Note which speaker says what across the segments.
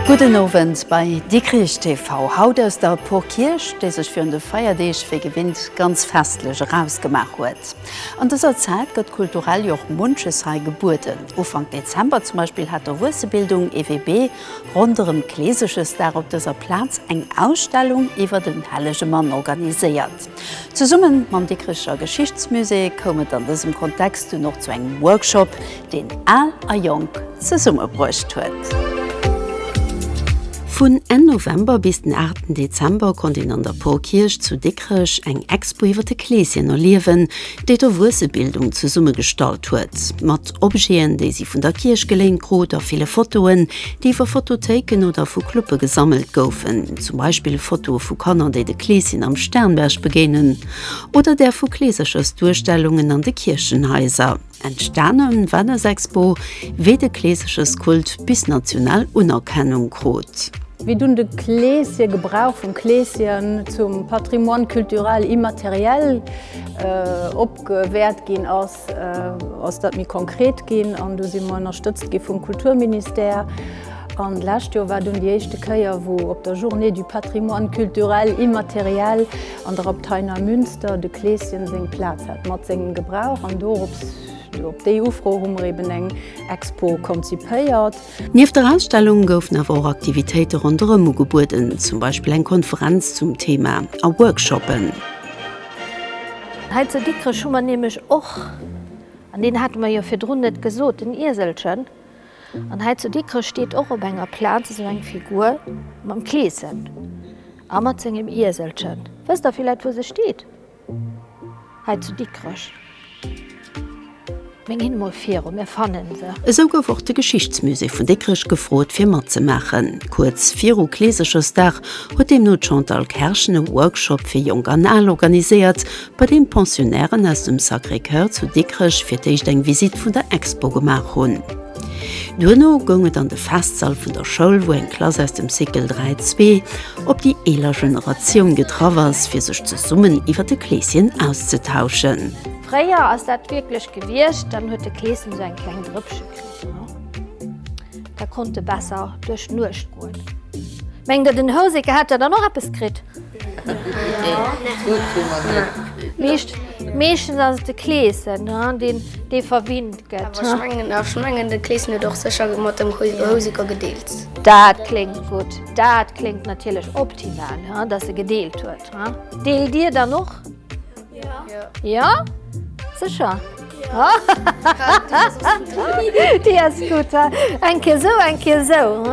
Speaker 1: Gudden Owend bei Dikrich TV. Haut aus der Porkierch, déi sech virun de Feierdeeg wéi gewinnt ganz festlech erausgemaach huet. An dëser Zäit gëtt kulturell jo och munches hei gebueden. Ufank Dezember zum Beispill hat d'Erwuessebildung, EWB, ronderëm Kleesegesdag op dëser Plaz eng Ausstellung iwwer den Hellege Mann organiséiert. Zesumme mam Dikricher Geschichtsmusée koum et an dësem Kontext dunn och zu engem Workshop, deen Al a Jonk zesummebruecht huet. Vun Enn November bis den 8 Dezember konnt een an der Porkierch zu Dikrech eng Expo iwwer de Kleeschen erliewen, déi d'Erwuessebildung zesummegestallt huet. Mat Objeten, déi si vun der Kierch geléint krut a ville Fotoen, déi iwwer Fotothéiken oder vu Clube gesammelt goufen, zum Beispill Fotoe vu Kanner, déi de Kleeschen am Sternberg begéinen oder där vu Kleeserchersduerstellungen an de Kierchenhaiser. Entstanen war des Expo wéi de Kleeseches Kult bis national Unerkennung krut. Wéi dunn de Kleesch hir Gebrauch vum Kleeschen zum Patrimoine culturel immatériel opgewäert ginn ass, ass dat méi konkret ginn an do si mer ënnerstëtzt gi vum Kulturministère. An d'lescht Joer war dunn déi éischte Kéier wou op der Journée du Patrimoine culturel immatériel, an der Abtei Neumünster de Kleeschen seng Plaz hat mat sengem Gebrauch an dorops, op déi Ufro hu mer eben eng Expo konzipéiert. Nieft der Ausstellung goufen awer och Aktivitéite ronderëm ugebueden, zum Beispill eng Konferenz zum Thema a Workshoppen. Hei zu Dikrech hu mer nämlech och, an deen hate mer jo virdrun net gesot, en Ieselchen, An hei zu Dikrech steet och op enger Plaz esou eng Figur mam Kleeschen a mat sengem Ieselchen. Wësst der villäit, wou se steet? Hei zu Dikrech. Meng hin emol viru, mir fanne se. Esou gouf och de Geschichtsmusée vun Dikrech gefrot, fir matzemaachen. Kuerz viru Kleesechersdag huet deemno d'Chantal Kerschen e Workshop fir Jonk an Al organiséiert, bei deem d'Pensionnairen aus dem Sacré-Coeur zu Dikrech fir d'éischt eng Visitt vun der Expo gemaach hunn. Duerno goung et an de Festsall vun der Schoul, wou eng Klass aus dem Cycle 3 zwee op déi eeler Generatioun getraff ass, fir sech zesummen iwwer de Kleeschen auszetauschen. Fréier ass dat wierklech gewiescht, dann huet de Kleeschen esou eng kleng Drëppche kritt, da konnt e besser duerch d'Nuecht goen. Mengt Der, den Houseke hätt da dann och eppes kritt? Meeschtens ass et de Kleeschen, dee verwinnt gëtt. Ech mengen, de Kleeschen huet och sécher mat dem Houseker gedeelt. Dat kléngt gutt. Dat kléngt natierlech optimal, datt e gedeelt huet. Deelt Dir dann och? Jo. Sécher? Jo. Déi ass gutt. Eng Kéier esou, eng Kéier esou.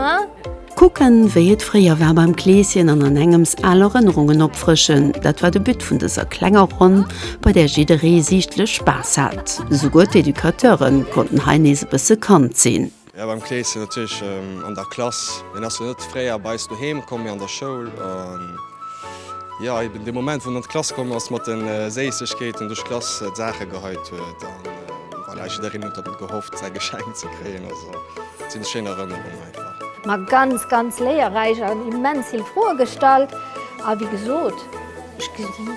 Speaker 1: Kucken, wéi et fréier war beim Kleeschen an an engems al Erënnerungen opfrëschen, dat war de But vun dëser klenger Ronn, bei där jidderee siichtlech Spaass hat. Souguer d'Educateure konnten hei nees e bësse Kand sinn. Jo, beim Kleeschen natierlech, an der Klass. Hien ass jo net fréier bei eis doheem komm, mee an der Schoul. An jo, eben dee Moment, wou en an d'Klass komm ass mat de Séissegkeeten, duerch d'Klass d'Saache geheit huet. An voilà, jiddereen huet op en gehofft, säi Geschenk ze kréien. Also, et sinn schéin Erënnerungen. Ma ganz ganz léierräich an immens vill Froe gestallt a wéi gesot ech gesi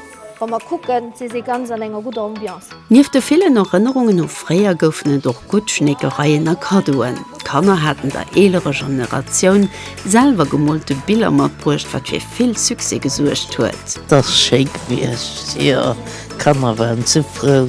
Speaker 1: wa mer kucken si si ganz an enger gudder Ambiance. Nieft de villen Erënnerungen u fréier goufen et och gutt Schneekereien a Kaddoen. D'Kanner haten der eelerer Generatioun selwer gemoolte Biller matbruecht, wat fir vill Succès gesuergt huet. T'ass schéi gewiescht, jo d'Kanner waren sou frou.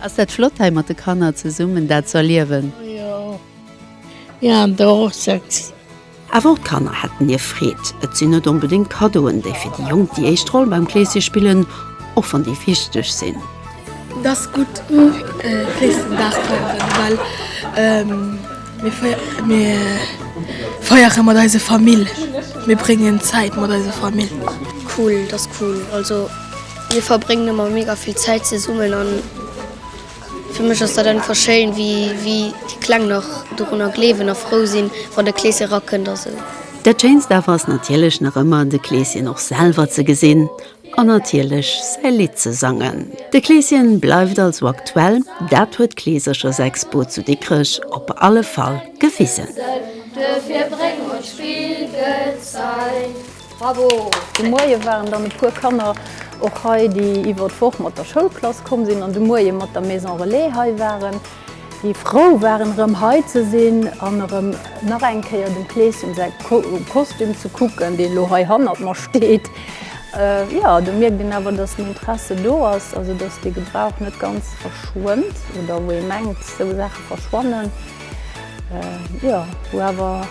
Speaker 1: Ass dat flott hei mat de Kanner zesummen dat ze erliewen. Oh jo, jo an do och sëtzen. Awer och d'Kanner hätten hir Freed. Et sinn net onbedéngt Kaddoen, déi fir déi Jonk déi éischt Roll beim Kleesje spillen, och wann déi wichteg sinn. Et ass gutt u Kleeschtendag ze denken, well mir feiere mat eiser Famill, mir bréngen Zäit mat eiser Famill. Cool, et ass cool also. Mir verbréngen ëmmer mega vill Zäit zesummen an fir mech ass dat einfach schéin, wéi déi Kleng nach dorunner gleewen a frou sinn, wann de Kleeschen erakënnt a sou. Dat Schéinst awer ass natierlech nach ëmmer, de Kleeschen och selwer ze gesinn an natierlech säi Lidd ze sangen. De Kleeschen bleift also aktuell, dat huet d'Kleeserchersexpo zu Dikrech op alle Fall gewisen. Bravo! De Moie waren dann e puer Kanner och hei, déi iwwer d'Woch mat der Schoulklass komm sinn an de Moie mat der Maison Relais hei waren, déi frou waren erëm hei ze sinn an erëm nach eng Kéier dem Kleeschen säi Kostüm ze kucken, deen elo hei hannert mer steet. Jo, do mierkt een awer, datt den Interesse do ass, also datt dee Gebrauch net ganz verschwënnt oder wou ee mengt, esou Saache verschwannen, jo, wou awer.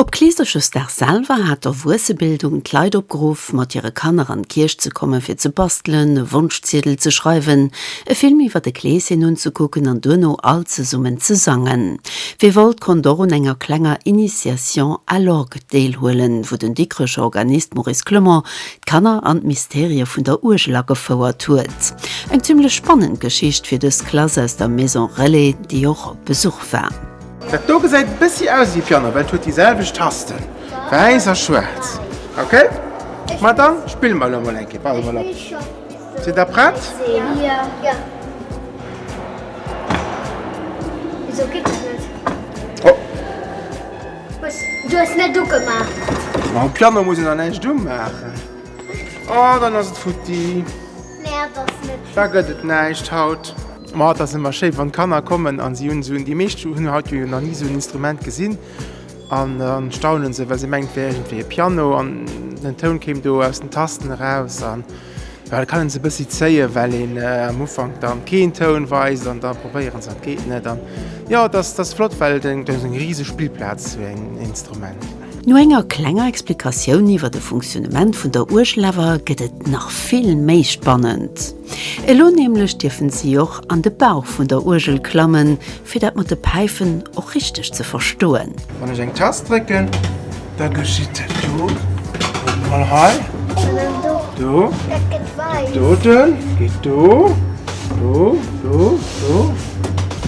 Speaker 1: Op Kleeserchesdag selwer hat d'Erwuessebildung d'Leit opgeruff, mat hire Kanner an d'Kierch ze komme fir ze bastelen, e Wonschziedel ze schreiwen, e Film iwwer de Kleeschen unzekucken an duerno all zesummen ze sangen. Wie wollt, konnt och un enger klenger Initiation à l'orgue deelhuelen, wou den Dikrecher Organist Maurice Clement d'Kanner an d'Mysterie vun der Uergel agefouert huet. Eng zimmlech spannend Geschicht fir dës Klass aus der Maison Relais, déi och op Besuch war. Dat do gesäit e bëssi aus ewéi d'Fianna, well et huet déi selwecht Tasten, wäiss a schwaarz. Ok, ma da spille mer elo mol eng Kéier. Warte mol ab, sidd der prett? Ma um Piano muss een dann näischt umaachen. Oh, dann ass et futti. Da gëtt et näischt haut. Ma et ass ëmmer schéi wann d'Kanner kommen a si hunn esou en, déi meescht hunn haut jo nach ni esou en Instrument gesinn an dann staunen se well se mengen et wär iergendwéi e Piano an den Toun kéim do aus den Tasten eraus an jo da kann een se e bëssi zéien well een am Ufank dann keen Toun weist an da probéieren se an et geet net an jo et ass, et ass flott well et eng, et ass eng riseg Spillplaz sou en Instrument. No enger klenger Explikatioun iwwer de Funktionnement vun der Uergel awer gëtt et nach vill méi spannend. Elo nämlech dierfen si och an de Bauch vun der Uergel klammen, fir dat mat de Päifen och richteg ze verstoen. Wann ech eng Tast drécken, da geschitt dat do. Kuckt mol hei. Do. Dat doten geet do. Do, do, do.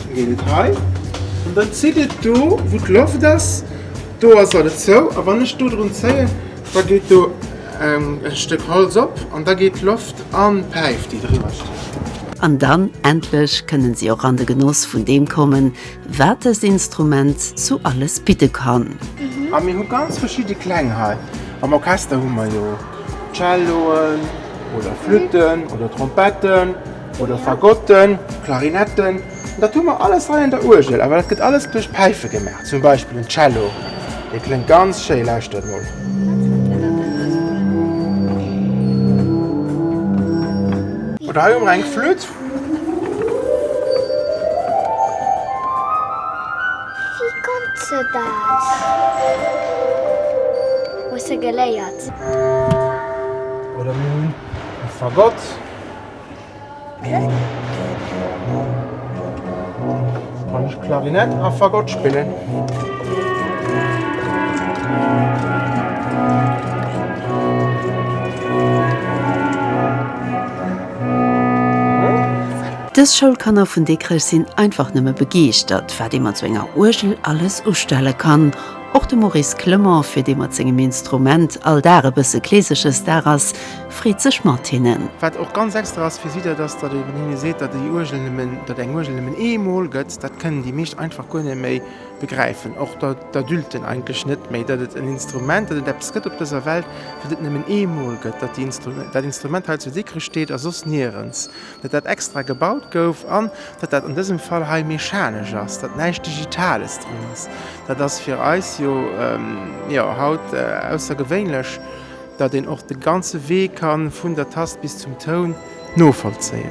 Speaker 1: Da geet et hei. An da zitt et do, wou d'Loft ass. Do ass alles zou. A wann ech do drun zéien. Da geet do e Stéck Holz op an da geet d'Loft an d'Päif, déi driwwer steet. An dann endlech kënnen si och an de Genoss vun deem kommen, wat dëst Instrument sou alles bidde kann. A mir hu ganz verschidde Kläng hei. Am Orchester hu mer jo Celloen oder Flütten oder Trompetten oder Fagotten, Klarinetten. Dat hu mer alles hei an der Uergel, awer dat gëtt alles duerch d'Päife gemaach. Zum Beispill den Cello, dee kléngt ganz schéi. Lauschtert mol. Oder hei hu mer eng Flütt. Wéi konnt se dat? Hu se geléiert? Oder mir hunn e Fagott. Kann ech Klarinett a Fagott spillen? Dës Schoulkanner vun Dikrech sinn einfach nëmme begeeschtert, wat ee mat sou enger Uergel alles ustelle kann. Och de Maurice Clement, fir dee mat sengem Instrument all Dag e bësse Kleesesches Dag ass, freet sech mat hinnen. Wat och ganz extra ass fir si, dat ass, datt ee hinne seet, datt eng Uergel nëmmen eemol gëtt. Dat kënnen déi meescht einfach guer net méi begräifen, och d'Adulten eigentlech net méi, datt et en Instrument, datt et eppes gëtt op dëser Welt, wat et nëmmen eemol gëtt, datt dat Instrument hei zu Dikrech steet a soss nirens, datt dat extra gebaut gouf an datt dat an dësem Fall hei mechanesch ass, datt näischt Digitales dran ass. Dat ass fir eis jo haut aussergewéinlech. Datt een och de ganze Wee kann, vun der Tast bis zum Toun, novollzéien.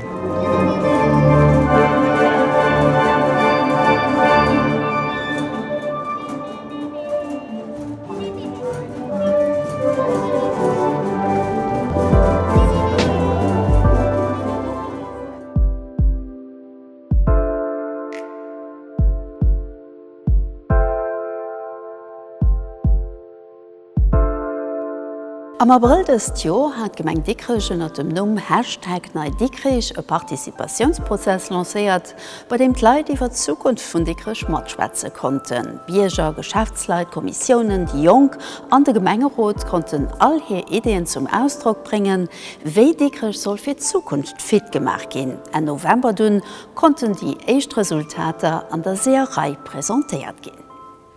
Speaker 1: Am Abrëll dëst Joer hat d'Gemeng Dikrech ënner dem Numm Hashtag NeiDikrich e Participatiounsprozess lancéiert, bei deem d'Leit iwwert d'Zukunft vun Dikrech matschwätze konnten. Bierger, Geschäftsleit, Kommissiounen, déi Jonk an de Gemengerot konnten all hir Ideeën zum Ausdrock bréngen, wéi Dikrech soll fir d'Zukunft fit gemaach ginn. Enn November dunn konnten déi éischt Resultater an der Seeërei presentéiert ginn.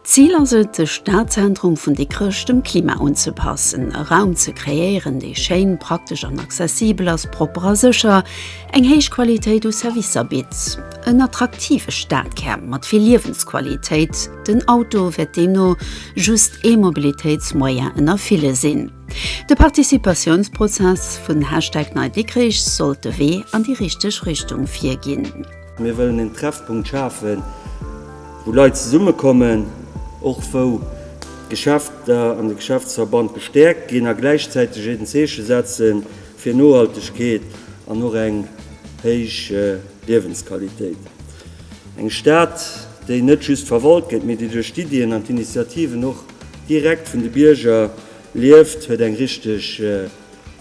Speaker 1: D'Zil ass et, de Stadzentrum vun Dikrech dem Klima unzepassen, e Raum ze kreéieren, dee schéin, praktesch an accessibel ass, propper a sécher, eng héich Qualitéit u Servicer bitt. En attraktive Stadkär mat vill Liewensqualitéit. Den Auto wäert deemno just ee Mobilitéitsmoyen ënner ville sinn. De Participatiounsprozess vun Hashtag NeiDikrich sollt de Wee an déi richteg Richtung virginn. Mir wëllen en Treffpunkt schafen, wou Leit zesummekommen, och wou d'Geschäfter an de Geschäftsverband gestäerkt ginn, a gläichzäiteg en Zeeche setze fir Nohaltegkeet an och eng héich Liewensqualitéit. Eng Stad, déi net just verwalt gëtt, mee déi duerch d'Iddien an d'Initiativen och direkt vun de Bierger lieft, huet eng richteg.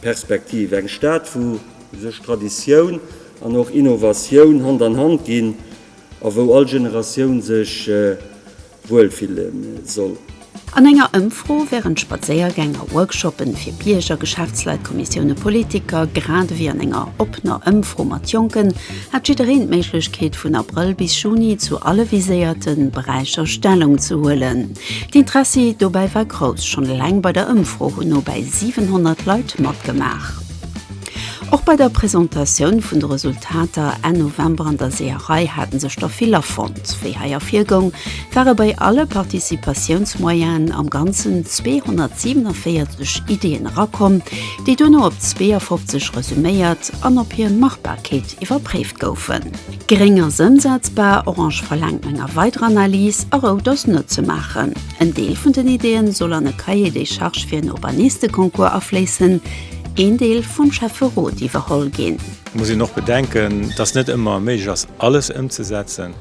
Speaker 1: Perspektiv, eng Stad wou sech Traditioun an och Innovatioun Hand an Hand ginn a wou all Generatioun sech wuel fille soll. An enger Ëmfro wärend Spadséiergäng a Workshoppen, fir Bierger, Geschäftsleit, Kommissioune, Politiker, grad ewéi an enger oppener Ëmfro mat Jonken, hat jiddereen d'Méiglechkeet vun Abrëll bis Juni zu alle viséierte Beräicher Stellung ze huelen. D'Interessi dobäi war grouss, schonn eleng bei der Ëmfro hunn no bäi 700 Leit matgemaach. Och bei der Presentatioun vun de Resultater Enn November an der Seeërei hate sech der vill afonnt. Wéi hei ervirgoung, ware bei alle Participatiounsmoyenen am Ganzen 247 Iddien erakomm, déi duerno op 52 resuméiert an op hir Machbarkeet iwwerpréift goufen. Gréng ass ëmsetzbar, orange verlaangt meng a weider Analys a rout ass net ze maachen. En Deel vun den Ideeën soll an e Cahier des charges fir en Urbanisteconcours afléissen, een Deel vum Schäfferot iwwerholl ginn. Et muss een och bedenken, dass net ëmmer méiglech ass alles ëmzesetzen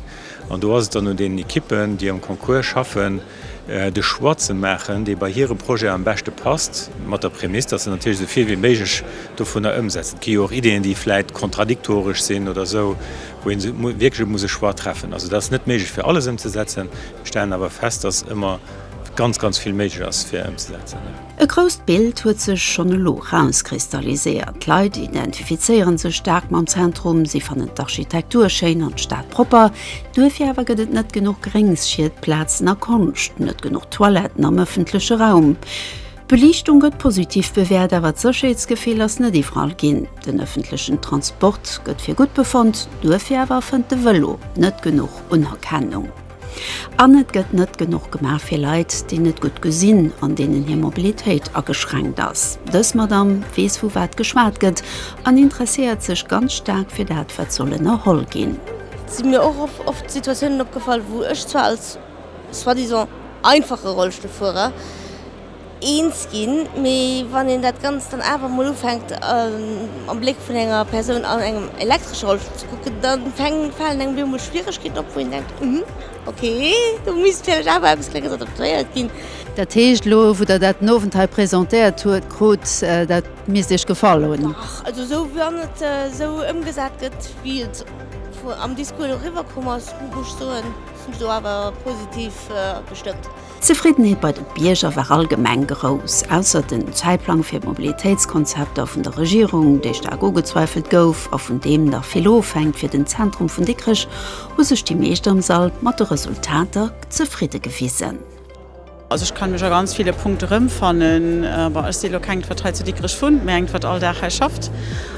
Speaker 1: an do ass et dann un deenen Equippen, déi am Concours schaffen, de Choix ze maachen, dee bei hire Projet am beschte passt, mat der Prämiss, datt se natierlech esou vill wéi méiglech dovunner ëmsetzen. Et gi jo och Ideeën, déi vläicht kontradiktoresch sinn oder esou, wou ee wierklech muss e Choix treffen. Also dat ass net méiglech fir alles ëmzesetzen. Mir stellen awer fest, datt ëmmer ganz, ganz vill méiglech ass fir ëmzesetzen. E grousst Bild huet sech schonn elo rauskristalliséiert. D'Leit identifizéieren sech staark mam Zentrum, si fannen d'Architektur schéin an d'Stad propper. Duerfir awer gëtt et net genuch gréng Schiedplazen a Konscht, net genuch Toiletten am ëffentleche Raum. D'Beliichtung gëtt positiv bewäert, awer d'Sécherheetsgefill ass net iwwerall ginn. Den ëffentlechen Transport gëtt fir gutt befonnt, duerfir awer fënnt de Vëlo net genuch Unerkennung. An et gëtt net genuch gemaach fir Leit, déi net gutt gesinn an deenen hir Mobilitéit ageschränkt ass. Dës Madamm weess, vu wat geschwat gëtt an interesséiert sech ganz staark fir dat, wat soll ënnerholl ginn. Et si mir och oft Situatiounen opgefall, wou ech zwar als soi-disant einfache Rollstullfuerer, eens ginn, mee wann een dat Ganzt dann awer emol ufänkt am Bléck vun enger Persoun an engem elektresche Rollstull ze kucken, da falen engem op eemol Schwieregkeeten op, wou een denkt, Hm, okay, do misst vläicht awer eppes Klenges adaptéiert ginn. Dat heescht, elo wou Der dat den Owend hei presentéiert hutt, krut, dat misst Iech gefall hunn? Dach, also esou wann et esou ëmgesat gëtt, wéi et am Discours elo eriwwer komm ass, muss ech soen, sinn ech do awer positiv gestëmmt. D'Zefriddenheet bei de Bierger war allgemeng grouss, ausser den Zäitplang fir d'Mobilitéitskonzepter vun der Regierung, dee staark ugezweifelt gouf a vun deem nach vill ofhänkt. Fir den Zentrum vun Dikrech hu sech déi meescht am Sall mat de Resultater zefridde gewisen. Also ech kann mech a ganz ville Punkte rëmfannen. Bon, ech si elo keng, wat hei zu Dikrech wunnt, mä eng, wat all Dag hei schafft.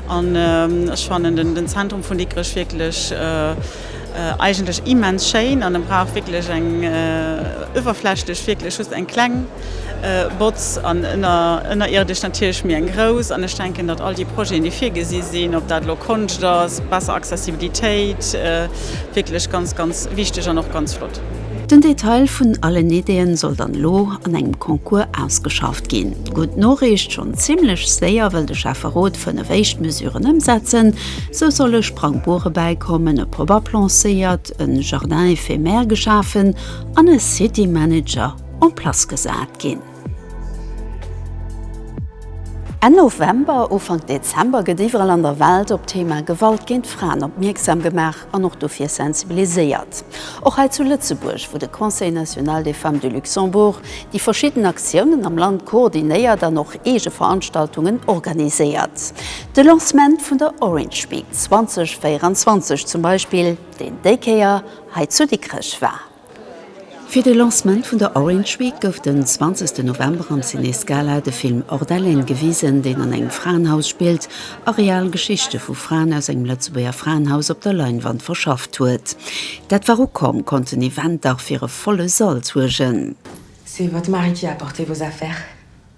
Speaker 1: An ech fannen den Zentrum vun Dikrech wierklech, Eigentlech immens schéin an en brauch wierklech eng uewerflächlech wierklech just eng kleng Botz an ënnerierdesch natierlech méi eng grouss an ech denken datt all déi Projeten déi virgesi sinn, ob dat elo Konscht ass, besser Accessibilitéit, wierklech ganz ganz wichteg an och ganz flott. Den Detail vun allen Ideeën soll dann elo an engem Concours ausgeschafft ginn. Gutt Noriicht, schonn zimmlech séier wëll de Schäfferot 5 éischt Mesuren ëmsetzen. Sou solle Sprangbure bäikommen, e Pop-up lancéiert, e Jardin éphémère geschafen an e City Manager en place gesat ginn. Enn November, Ufank Dezember gëtt iwwerall an der Welt op d'Thema Gewalt géint Fraen opmierksam gemaach. an och dofir sensibiliséiert, och hei zu Lëtzebuerg, wou de Conseil national des femmes du Luxembourg déi verschidden Aktiounen am Land koordinéiert an och eege Veranstaltungen organiséiert. De Lancement vun der Orange Week 2024 zum Beispill, deen déi Kéier hei zu Dikrech war. Fir de Lancement vun der Orange Week gouf den 20 November am Ciné Scala de Film Hors d'haleine gewisen, deen an engem Fraenhaus spillt a real Geschichte vu Fraen aus engem Lëtzebuerger Fraenhaus op der Leinwand verschafft huet. Dat war u komm, konnt den Event dach fir e volle Sall suergen. C'est votre mari qui a apporté vos affaires.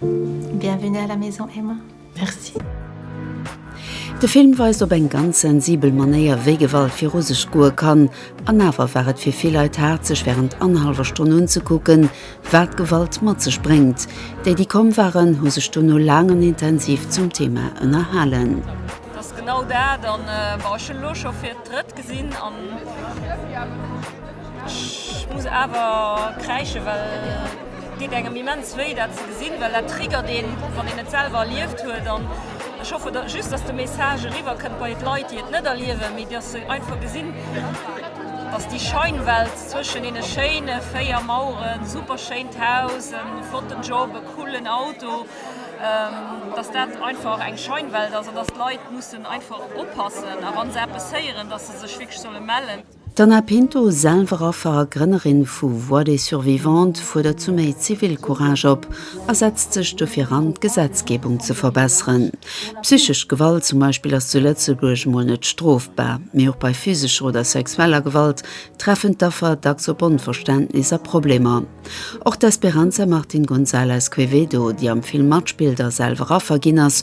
Speaker 1: Bienvenue à la maison Emma. Merci. De Film weist op eng ganz sensibel Manéier, wéi Gewalt viru sech goe kann. An awer war et fir vill Leit haart, sech wärend annerhallwer Stonn unzekucken, wat Gewalt mat sech bréngt. Déi, déi komm waren, hu sech dono laang an intensiv zum Thema ënnerhalen. Genau dat an bon ech hunn elo scho fir d'drëtt gesinn an ech muss awer kräischen well. Deet engem immens wéi dat ze gesinn, well dat triggert een, wann een et selwer erlieft huet. An ech hoffe just, dass de Message eriwwer kënnt bei d'Leit, déi et net erliewen, mee dass se einfach gesinn, dass déi Scheinwelt zwëschen deene schéine véier Maueren, super schéint Haus, e flotten Job, e coolen Auto, dass dat einfach eng Scheinwelt ass an dass d'Leit mussen einfach oppassen a wa se eppes héieren, dass se sech wierklech solle mellen. D'Anna Pinto, selwer Affer a Grënnerin vu Voix des Survivantes, fuerdert zu méi Zivilcourage op a setzt sech dofir an, d'Gesetzgebung ze verbesseren. Psychesch Gewalt zum Beispill ass zu Lëtzebuerg mol net strofbar, mee och bei physescher oder sexueller Gewalt treffen d'Affer dacks op Onverständnis a Problemer. Och d'Esperanza Martin Gonzalez Quevedo, déi am Film matspillt a selwer Affer ginn ass,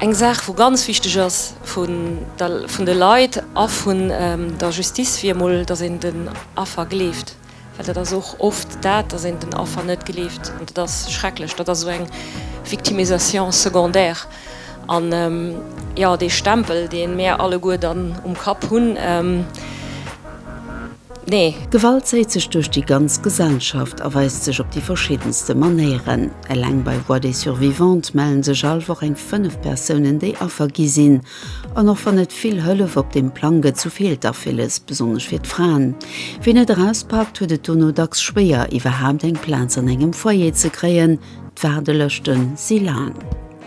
Speaker 1: Eng Saach wou ganz wichteg ass vun de Leit a vun der Justice wier emol, datt een den Affer gleeft, well dat ass och oft dat, datt een den Affer net gleeft an dat ass schrecklech. Dat ass esou eng Victimisation secondaire an jo dee Stempel dee mär alleguer dann um Kapp hunn. Nee. Gewalt zéit sech duerch déi ganz Gesellschaft a weist sech op déi verschiddenste Manéieren. Eleng bei Voix des Survivantes mellen sech all Woch eng 5 Persounen, déi Affer gi sinn. An och wann et vill Hëllef op deem Plang gëtt, sou feelt dach villes, besonnesch fir d'Fraen. Wien net erauspaakt, huet et dono dacks schwéier, iwwerhaapt eng Plaz an engem Foyer ze kréien. D'Waardelëschte si laang.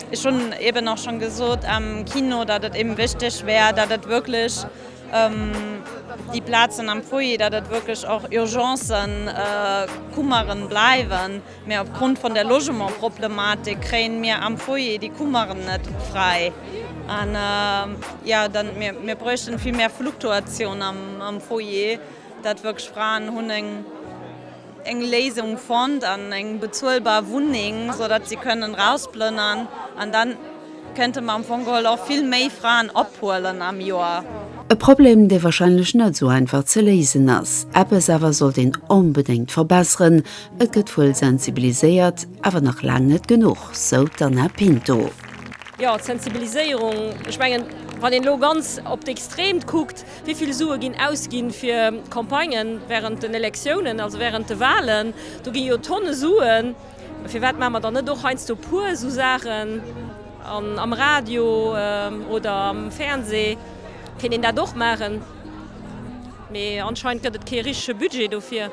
Speaker 1: Ech hunn eben och schonn gesot am Kino, datt et eben wichteg wär, datt et wierklech Déi Plazen am Foyer, datt et wierklech och Urgencen, Kummeren bleiwen, mä op Grond vun der Logementproblematik kréien mir am Foyer déi Kummeren net fräi. An jo, dann mir, mir bräuchten vill méi Fluktuatioun am Foyer, datt wierklech Fraen hunn eng. eng Léisung fonnt an eng bezuelbar Wunneng, sou datt si kënnen erausplënnern an dann kënnte mer am Fong geholl och vill méi Fraen ophuelen am Joer. E Problem, dee wahrscheinlech net sou einfach ze léisen ass. Eppes awer sollt een onbedéngt verbesseren, et gëtt wuel sensibiliséiert, awer nach laang net genuch, sou d'Anna Pinto. Jo, d'Sensibiliséierung, ech mengen, wann een elo ganz op d'Extreemt kuckt, Wéi vill Sue ginn ausginn fir Campagnen während den Elektiounen, also während de Wahlen? Do ginn jo Tonne Suen. Firwat maache mer dann net och heiansdo puer esou Saachen am Radio oder am Fernseh? Kéint een dat och maachen, mee anscheinend gëtt et kee richtege Budget dofir.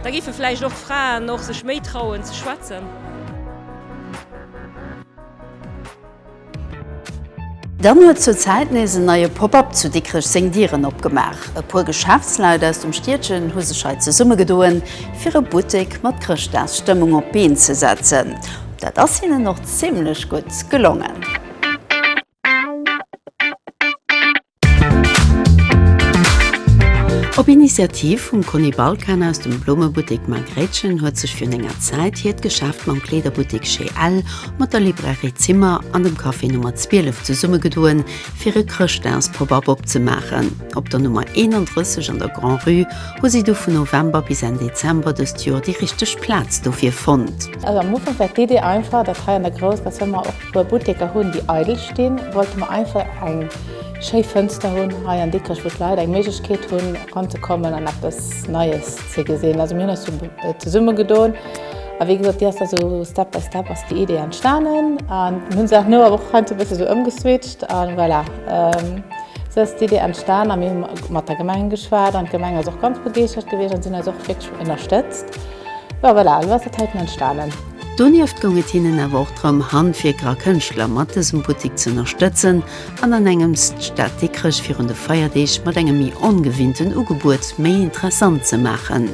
Speaker 1: Da géife vläicht och d'Fraen och sech méi trauen ze schwätzen. Dann huet zur Zäit nees en neie Pop-Up zu Dikrech seng Dieren opgemaach. E puer Geschäftsleit aus dem Stiedchen hu sech hei zesummegedoen, fir e Buttek mat Chrëschtdagsstëmmung op d'Been ze setzen. Dat ass hinnen och zimmlech gutt gelongen. Op Initiativ vum Conny Balkan aus dem Blommebuttek Margréitchen huet sech virun enger Zäit hiert Geschäft mam Kleederbuttek Chez Ell, mat der Librairie Zimmer an dem Café Nummer 12 zesummegedoen, fir e Chrëschtdags-Pop-Up opzemaachen. Op der Nummer 31 an der Grand-Rue hu si du vun November bis Enn Dezember dëst Joer déi richteg Plaz dofir fonnt. Also am Ufank war d'Idee einfach, dat hei an der grousser Zëmmer. Wou mer Butteker hunn, déi eidel stinn, wollte mer einfach eng schéi Fënster hunn hei an Dikrech, wou d'Leit eng Méiglechkeet hunn, eranzekommen an eppes Neies ze gesinn. Also mir hunn eis do zesummegedoen a wéi gesot, déi ass da sou Step by Step ass déi Idee entstanen an mir hu se nach no, awer och heiansdo e bësse sou ëmgeswitcht a voilà. Sou ass d'Idee entstan a mir hu mat der Gemeng geschwat an d'Gemeng ass och ganz begeeschtert gewiescht an si hunn eis och wierklech ënnerstëtzt. Jo voilà, elo ass dat heiten entstanen. Donieft goung et hinnen awer och drëm, Handwierker a Kënschtler mat dësem Buttik z'ënnerstëtzen an an engems d'Stad Dikrech virun de Feierdeeg mat engem méi ongewinnten Ugebuet méi interessant ze maachen.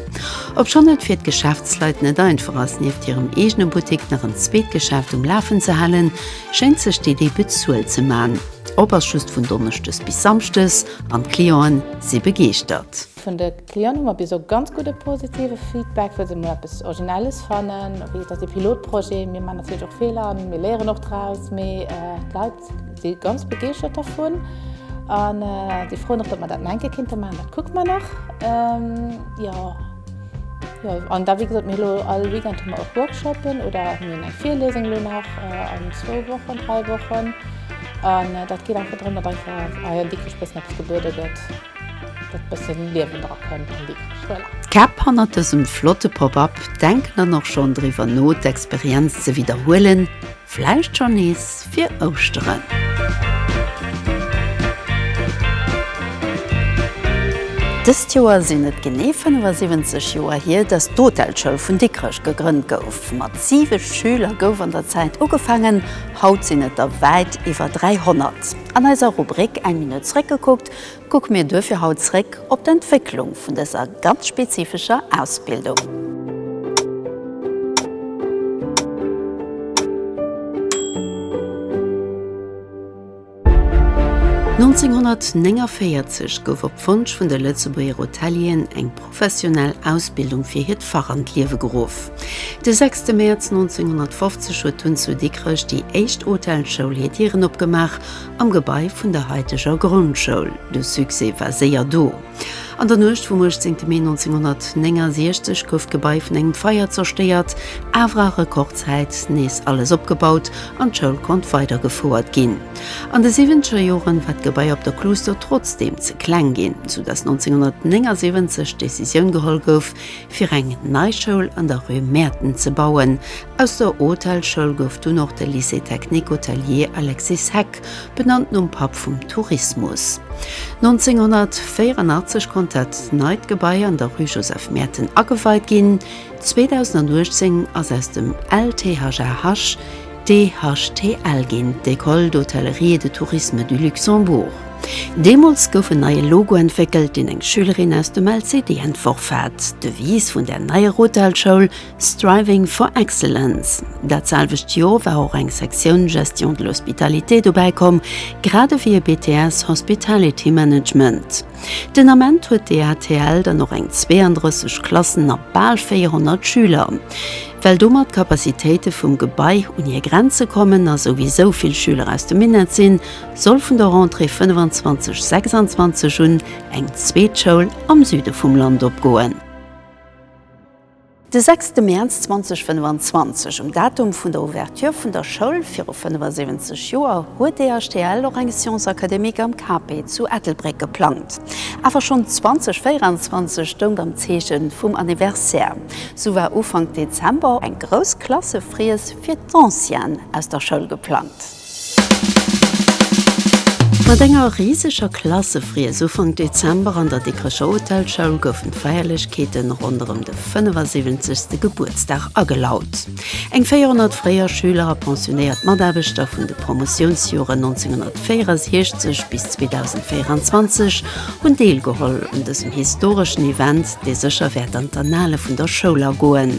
Speaker 1: Obschonn et fir d'Geschäftsleit net einfach ass, nieft hirem eegene Buttik nach en zweet Geschäft um Lafen ze halen, schéngt sech d'Iddi bezuelt ze man. Op ass just vun Donneschdes bis Samschdes an d'Clienten si begeeschtert. Vun de Clienten hu mer bis elo ganz gudde positive Feedback, well se emol eppes Originelles fannen. Wéi et ass ee Pilotprojet, mir maachen natierlech och Feeler an mir léieren och draus, mee d'Leit si ganz begeeschtert dervun an si froen och, datt mer dat nach eng Kéier kéinte maachen. Dat kucke mer nach, jo. Jo, an da wéi gesot, mir hu elo all Weekend hu mer och Workshoppen oder mir hunn eng Virlesung elo nach an zwou Wochen, dräi Wochen an dat geet einfach drëm, datt einfach, ah jo, dickesch bëssen eppes gebuede gëtt. Dat bëssen Liewen dra kënnt an déi Krécht. Voilà. D'Käpp hannert dësem flotte Pop-Up denken dann och schonn driwwer no d'Experienz ze widderhuelen, vläicht schonn nees fir Ouschteren. Dëst Joer sinn et genee 75 Joer hier, datt d'Hotelschoul vun Dikrech gegrënnt gouf. Mat 7 Schüler gouf an der Zäit ugefaangen, haut sinn et der wäit iwwer 300. An eiser Rubrik Eng Minutt zréckgekuckt Kucke mir duerfir haut zréck op d'Entwécklung vun dëser ganz spezifescher Ausbildung. D'Nonzénhonnertnéngaféierzeg gouf op Wonsch vun de Lëtzebuerger Hotelieren eng professionell Ausbildung fir hiert Fach an d'Liewe geruff. De sechste Mäerz 1950 huet dunn zu Dikrech déi éischt Hotelschoul hir Dieren opgemaach Am Gebai vun der haiteger Grondschoul. De Succès war séier do. An der Nuecht vum 18 Mee 1969 gouf d'Gebai vun engem Feier zerstéiert, awer a Rekordzäit nees alles opgebaut an d'Schoul konnt weidergefouert ginn. An de siwwenzeger Joren war d'Gebai op der Kluuster trotzdeem ze kleng ginn, soudass 1979 d'Decisioun geholl gouf, fir eng nei Schoul an der Rue Mäerten ze bauen, Aus der Hotelschoul gouf dunn och de Lycée technique hotelier Alexis Heck, benannt nom Papp vum Tourismus. 1984 konnt dat neit Gebai an der Rue Joseph Merten ageweit ginn. 2018 ass aus dem LTHAH de HTL ginn, d'École d'Hôtellerie et de Tourisme du Luxembourg. Deemools gouf en neie Logo entwéckelt, deen eng Schülerin aus dem LCD entworf hat. D'Devise vun där neier Hotelschoul. Striving for Excellence. Dat selwecht Joer war och eng Sektioun Gestion de l'Hospitalité dobäi komm, grad ewéi e BTS Hospitality Management. Den Ament huet d'EHTL dann och eng 32 Klassen a bal 400 Schüler. Well domat d'Capacitéite vum Gebai un hir Grenze kommen a souwisou vill Schüler aus dem Minett sinn, soll vun der Rentrée 25, 26 un eng zweet Schoul am Süde vum Land opgoen. De sechste Mäerz 2025, um Datum vun der Ouverture vun der Schoul viru 75 Joer, huet d'EHTL och eng Science académique am KP zu Ettelbréck geplangt. Awer schonn 2024 stoung am Zeeche vum Anniversaire. Sou war Ufank Dezember eng grouss Klassefriess fir d'Ancienne aus der Schoul geplangt. Mat enger riseger Klassefriess Ufank Dezember an der Dikrecher Hotelschoul goufen d'Feierlechkeete ronderëm de 75. Gebuertsdag agelaut. Eng 400 fréier Schüler a pensionéiert Mataarbechter vun de Promotiounsjoren 1964 bis 2024 hunn deelgeholl un dësem historeschen Event, dee sécher wäert an d'Annale vun der Schoul agoen.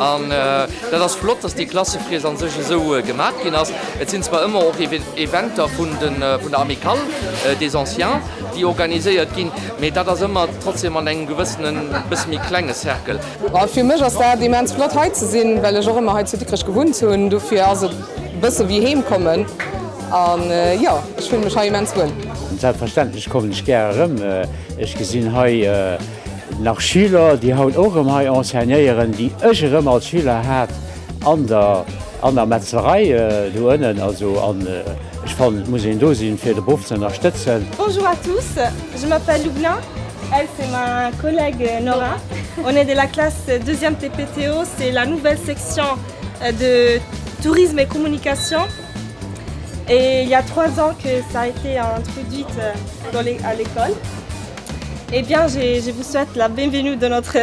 Speaker 1: An dat ass flott, dass déi Klassefriess a sech esou gemat ginn ass. Et sinn zwar ëmmer och Eventer vun der Amicale des Anciens, déi organiséiert ginn, mee dat ass ëmmer trotzdem an engem gewëssene bësse méi klenge Cercle. Fir mech ass dat immens flott, hei ze sinn, well ech och ëmmer hei zu Dikrech gewunnt hunn. Dofir ass et e bësse wéi heem kommen. An jo, ech fillen mech hei immens wuel. Selbstverständlech kommen ech gär erëm. Ech gesinn hei. Nach Schüler, déi haut och erëm hei enseignéieren, déi ech erëm als Schüler hat an der, an der Metzlerei do ënnen. Also an ech fannen, et muss een do sinn, fir de Beruff ze ënnerstëtzen. Bonjour à tous, je m'appelle Lubna, elle c'est ma collègue Nora, on est de la classe deuxième TPTO, c'est la nouvelle section de tourisme et communication et il y a trois ans que ça a été introduite dans les, à l'école. Eh bien, je, je vous souhaite la bienvenue dans notre,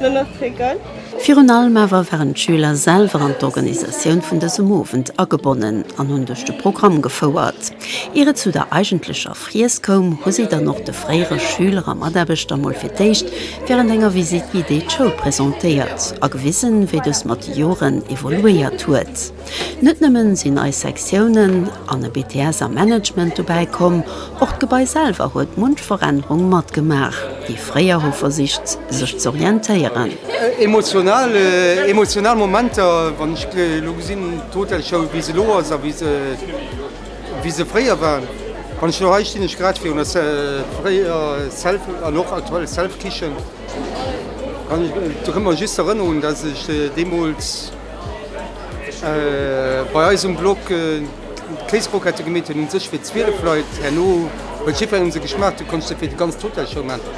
Speaker 1: dans notre école. Virun allem awer waren d'Schüler selwer an d'Organisatioun vun dësem Owend agebonnen an hunn duerch de Programm gefouert. Ier et zu der eigentlecher Friess koum, hu si dann och de fréiere Schüler a Mataarbechter mol fir d'éischt wärend enger Visite guidée d'Schoul presentéiert a gewisen, wéi dës mat de Joren evoluéiert huet. Net nëmmen sinn nei Sektiounen an e BTS am Management dobäi komm, och d'Gebai selwer huet munch Verännerung matgemaach. Déi fréier hu versicht sech ze orientéieren. Emotional, emotional Momenter wann ech elo gesinn d'Hotelschoul wéi se elo ass a wéi se, wéi se fréier war. Wann ech elo hei stinn, ech grad virun der fréierer Self an och aktuell Self Kichen, da kënnt mer just erënnerung, datt ech deemools, Bei eis um Blog d'Kéiscroquette gemeet hunn, hunn sech fir 12 Leit, herno huet jiddferen un se geschmaacht, du konns der fir de ganze Hotel Show maachen.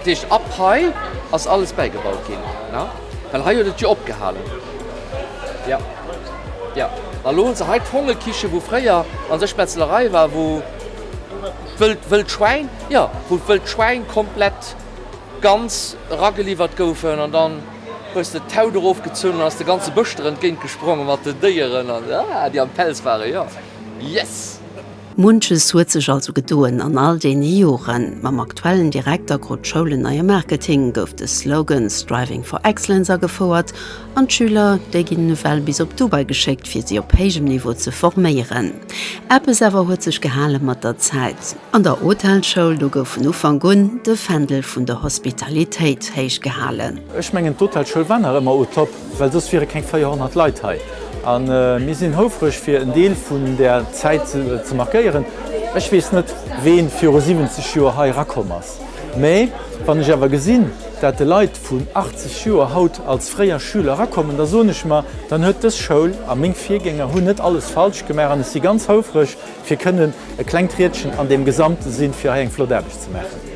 Speaker 1: Deeg ab hei ass alles bäigebaut ginn, well hei huet et jo opgehalen. Jo, jo, a lo hunn se hei d'Vogelkiche, wou fréier an sech d'Metzlerei war, wou d'wëllt Schwäin, jo, wou d'wëllt Schwäin komplett ganz erageliwwert goufen an dann, Hues de d'Haut erofgezunn an ass de ganze Bësch der entgéint gesprongen mat den Déieren, déi am Pelz waren. Jo, yes! Munches huet sech also gedoen an all deene Joren. Mam aktuellen Direkter krut d'Schoul en neie Marketing, gouf de Slogan Striving for Excellence agefouert an d'Schüler, déi ginn ewell bis op Dubai geschéckt, fir si op héijem Niveau ze forméieren. Eppes awer huet sech gehale mat der Zäit. An der Hotelschoul, do gouf vun Ufank un de Fändel vun der Hospitalitéit héich gehalen. Ech mengen d'Hotelschoul war nach ëmmer au top, well soss wiere keng 400 Leit hei. A mir sinn houfreg fir en Deel vun där Zäit ze markéieren. Ech weess net wee viru 70 Joer hei erakomm ass, mä wann ech awer gesinn, dat de Leit vun 80 Joer haut als fréier Schüler erakommen, da soen ech mer, dann huet dës Schoul a meng Virgänger hunn net alles falsch gemaach an ech si ganz houfreg, Fir kënnen e klengt Riedchen an deem Gesamte sinn, fir hei eng flott Aarbecht ze maachen.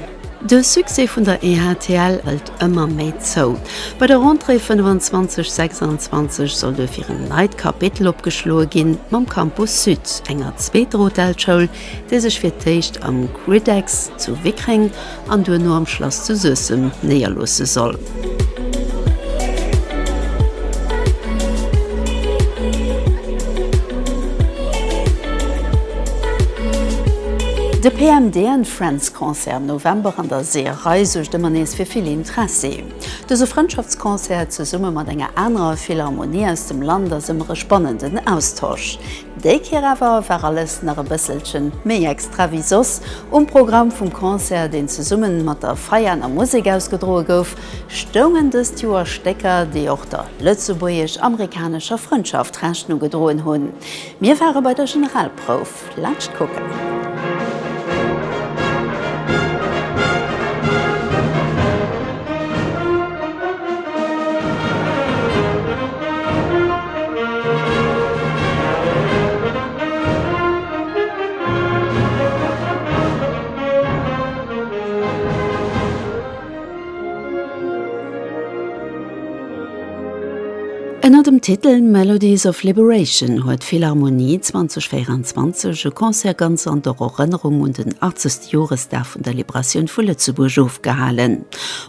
Speaker 1: De Succès vun der EHTL hëlt ëmmer méi zou. Bei der Rentrée 25 26 soll duerfir en neit Kapitel opgeschloe ginn, mam Campus Sud, enger zweeter Hotelsschoul, déi sech fir d'éischt am Griddex zu Wickreng an duerno am Schlass zu Suessem néierloosse soll. De PMD and Friends Concert am November an der Seeërei suergt ëmmer nees fir vill Intressi. Dëse Frëndschaftsconcert zesumme mat enger anerer Philharmonie aus dem Land ass ëmmer e spannenden Austausch. Déi Kéier awer war alles nach e bësselchen méi extra wéi soss. Um Programm vum Concert, deen zesummen mat der Veianer Musek ausgedroe gouf, stoungen dëst Joer Stécker, déi och der lëtzebuergesch-amerikanescher Frëndschaft Rechnung gedroen hunn. Mir ware bei der Generalprouf. Laanscht kucken. Ënner dem Titel Melodies of Liberation huet d'Philharmonie 2024 e Concert ganz an der Erënnerung un den 80. Joresdag vun der Liberatioun vu Lëtzebuerg ofgehalen.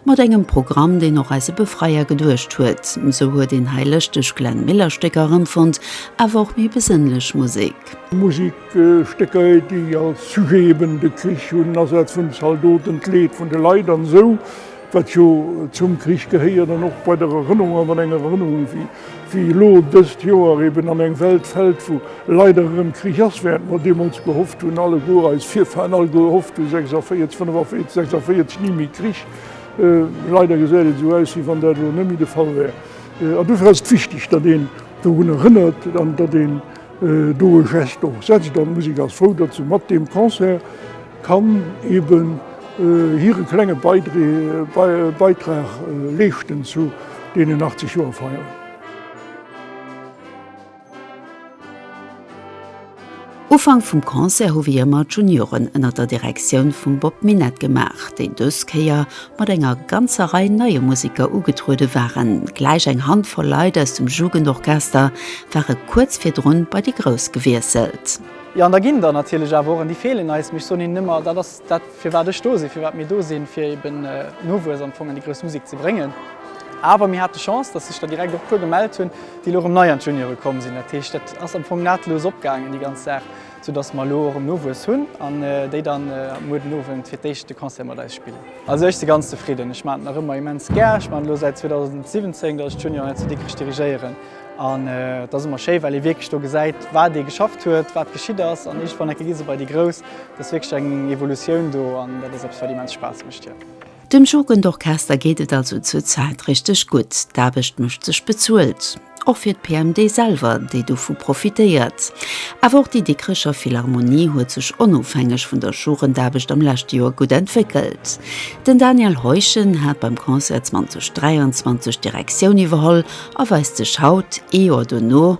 Speaker 1: Mat engem Programm, deen och eise Befreier geduecht huet. Esou huet een hei lëschteg Glenn Miller Stécker erëmfonnt, awer och méi besënnlech Musek. Musek, Stécker déi als Sujet eben de Krich hunn, Asaz vun de Zaldoten, d'Leed vun de Leit an esou, wat jo zum Krich gehéiert an och bei der Erënnerung an enger Erënnerung wéi. Wéi elo dëst Joer eben an eng Welt fält, wou leider erëm Krich ass, wärend mer deemools gehofft hunn, alleguer eis Virfahren all gehofft hu 46, 45, 46 ni méi Krich, leider gesäit et esou aus, wéi wann dat elo net méi de Fall wär. An dofir ass et wichteg, datt een dorun erënnert an datt een do e Geste och setzt an d'Musek ass frou, datt se mat deem Concert kann eben hire klenge Beitrag leeschten zu deenen 80 Joer Feier. Ufank vum Concert hu wéi ëmmer d'Junioren ënnert der Direktioun vum Bob Minett gemaach, déi dës Kéier mat enger ganzer Rei neie Museker ugetruede waren, gläich eng Handvoll Leit aus dem Jugendorchester ware kuerz virdrun bei déi Grouss gewiesselt. Jo, an da ginn der natierlech awer och, an déi feelen eis, mee ech soen hinnen ëmmer, dat ass dat, firwat ech do sinn, firwat mir do sinn, fir eben Nowuess am Fong an déi grouss Musek ze bréngen. Awer mir hate Chance, dass sech der direkt och e puer gemellt hunn, déi elo erëm nei an d'Juniore komm sinn. Dat heescht, dat ass am Fong nahtlos opgaangen, déi ganz Saach. Sou dass mer elo erëm Nowuess hunn an déi dann muer den Owend fir d'éischt de Concert mat eis spillen. Also ech si ganz zefridden. Ech maan et nach ëmmer immens gär. Ech maan et elo säit 2017, dass ech d'Junior hei zu Dikrech dirigéieren. An et ass ëmmer schéi, well ee wierklech do gesäit, wat ee geschafft huet, wat geschitt ass. An iergendwann enke gi se bei déi Grouss. Et ass wierklech eng Evolutioun do an dat ass eppes, wat immens Spaass mécht, jo. Dem Jugendorchester geet et also zur Zäit richteg gutt. D'Aarbecht mécht sech bezuelt. Och fir d'PMD selwer, déi dovu profitéiert. Awer och déi Dikrecher Philharmonie huet sech onofhängeg vun der Jugendaarbecht am leschte Joer gutt entwéckelt. Den Daniel Heuschen hat beim Concert 2023 d'Direktioun iwwerholl a weist sech haut, ee Joer dono,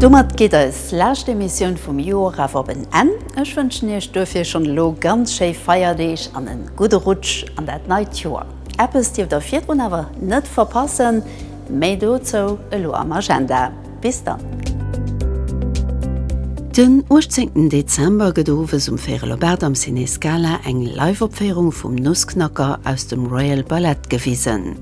Speaker 1: Domat geet eis lescht Emissioun vum Joer awer op en Enn. Ech wënschen Iech duerfir schonn elo ganz schéi Feierdeeg an en gudde Rutsch an dat neit Joer. Eppes dierft der virdrun awer net verpassen, méi dozou elo am Agenda. Bis dann! Den 18 Dezember gëtt owes um Vérelobert am Ciné Scala eng Live-Opféierung vum Nussknacker aus dem Royal Ballet gewisen.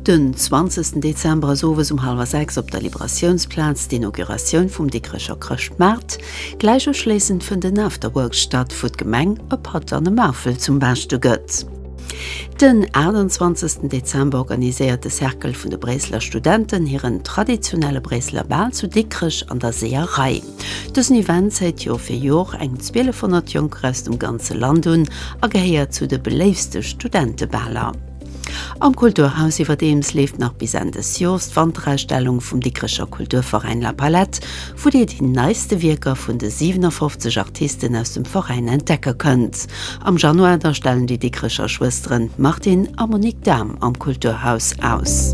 Speaker 1: Den 20 Dezember ass owes um hallwer 6 op der Liberatiounsplaz d'Inauguratioun vum Dikrecher Chrëschtmaart. Gläich uschléissend fënnt en Afterwork statt, wou d'Gemeng e Patt an e Maufel zum Baaschte gëtt. Den 28 Dezember organiséiert de Cercle vun de Bréisseler Studenten hiren traditionelle Bréisseler Bal zu Dikrech an der Seeërei. Dësen Event zéit Jor fir Jor eng 1200 Jonker aus dem ganze Land un a gehéiert zu de beléifste Studentebaler. Am Kulturhaus iwwerdeems leeft nach bis Enn des Jors d'Wanterausstellung vum Dikrecher Kulturveräin La Palette, wou Dir déi neiste Wierker vun de 57 Artisten aus dem Veräin entdecke kënnt. Am Januar da stellen déi Dikkrecher Schwësteren Martine a Monique Dahm am Kulturhaus aus.